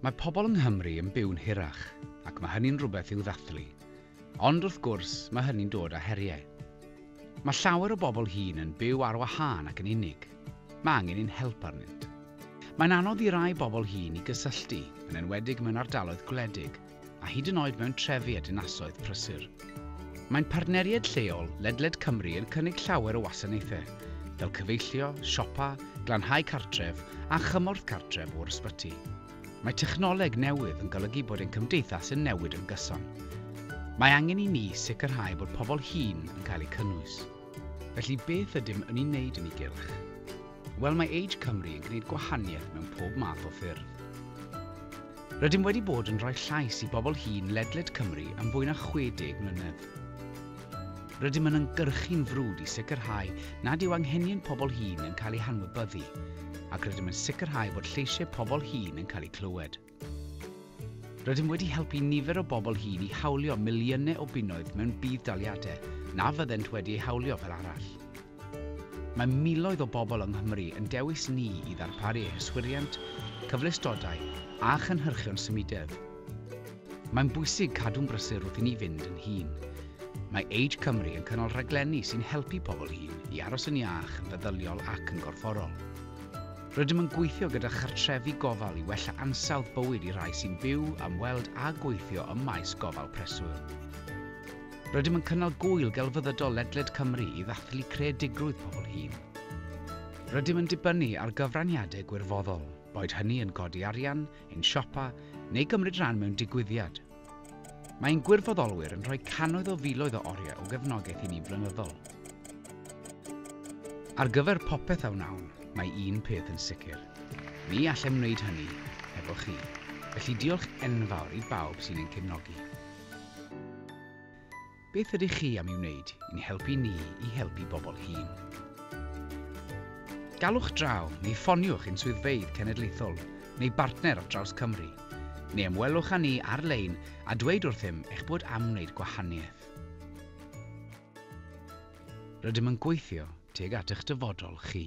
Mae pobl yng Nghymru yn byw'n hirach, ac mae hynny'n rhywbeth i'w ddathlu. Ond, wrth gwrs, mae hynny'n dod â heriau. Mae llawer o bobl hŷn yn byw ar wahân ac yn unig. Mae angen ein help arnynt. Mae'n anodd i rai bobl hŷn i gysylltu, yn enwedig mewn ardaloedd gwledig, a hyd yn oed mewn trefi a dinasoedd prysur. Mae'n partneriaid lleol ledled Cymru yn cynnig llawer o wasanaethau, fel cyfeillio, siopa, glanhau cartref a chymorth cartref o'r ysbyty. Mae technoleg newydd yn golygu bod ein cymdeithas yn newid yn gyson. Mae angen i ni sicrhau bod pobl hŷn yn cael eu cynnwys. Felly beth ydym yn ei wneud yn ei gylch? Wel, mae Age Cymru yn gwneud gwahaniaeth mewn pob math o ffyrdd. Rydym wedi bod yn rhoi llais i bobl hŷn ledled Cymru am fwy na 60 mlynedd. Rydym yn ymgyrchu'n frwd i sicrhau nad yw anghenion pobl hŷn yn cael eu hanwybyddu, ac rydym yn sicrhau bod lleisiau pobl hŷn yn cael eu clywed. Rydym wedi helpu nifer o bobl hŷn i hawlio miliynau o bunnoedd mewn budd-daliadau na fyddent wedi eu hawlio fel arall. Mae miloedd o bobl yng Nghymru yn dewis ni i ddarparu eu hyswiriant, cyfleustodau a chynhyrchion symudedd. Mae'n bwysig cadw'n brysur wrth i ni fynd yn hŷn. Mae Age Cymru yn cynnal rhaglenni sy'n helpu pobl hŷn i aros yn iach yn feddyliol ac yn gorfforol. Rydym yn gweithio gyda chartrefi gofal i wella ansawdd bywyd i rai sy'n byw, ymweld a gweithio ym maes gofal preswyl. Rydym yn cynnal Gŵyl Gelfyddydol ledled Cymru i ddathlu creadigrwydd pobl hŷn. Rydym yn dibynnu ar gyfraniadau gwirfoddol, boed hynny yn codi arian, ein siopa, neu gymryd rhan mewn digwyddiad. Mae ein gwirfoddolwyr yn rhoi cannoedd o filoedd o oriau o gefnogaeth i ni flynyddol. Ar gyfer popeth a wnawn, mae un peth yn sicr, ni allem wneud hynny hefo chi, felly diolch enfawr i bawb sy'n ein cefnogi. Beth ydych chi am ei wneud i'n helpu ni i helpu bobl hŷn? Galwch draw neu ffoniwch ein swyddfeydd cenedlaethol neu bartner ar draws Cymru, neu ymwelwch â ni ar-lein a dweud wrthym eich bod am wneud gwahaniaeth. Rydym yn gweithio tuag at eich dyfodol chi.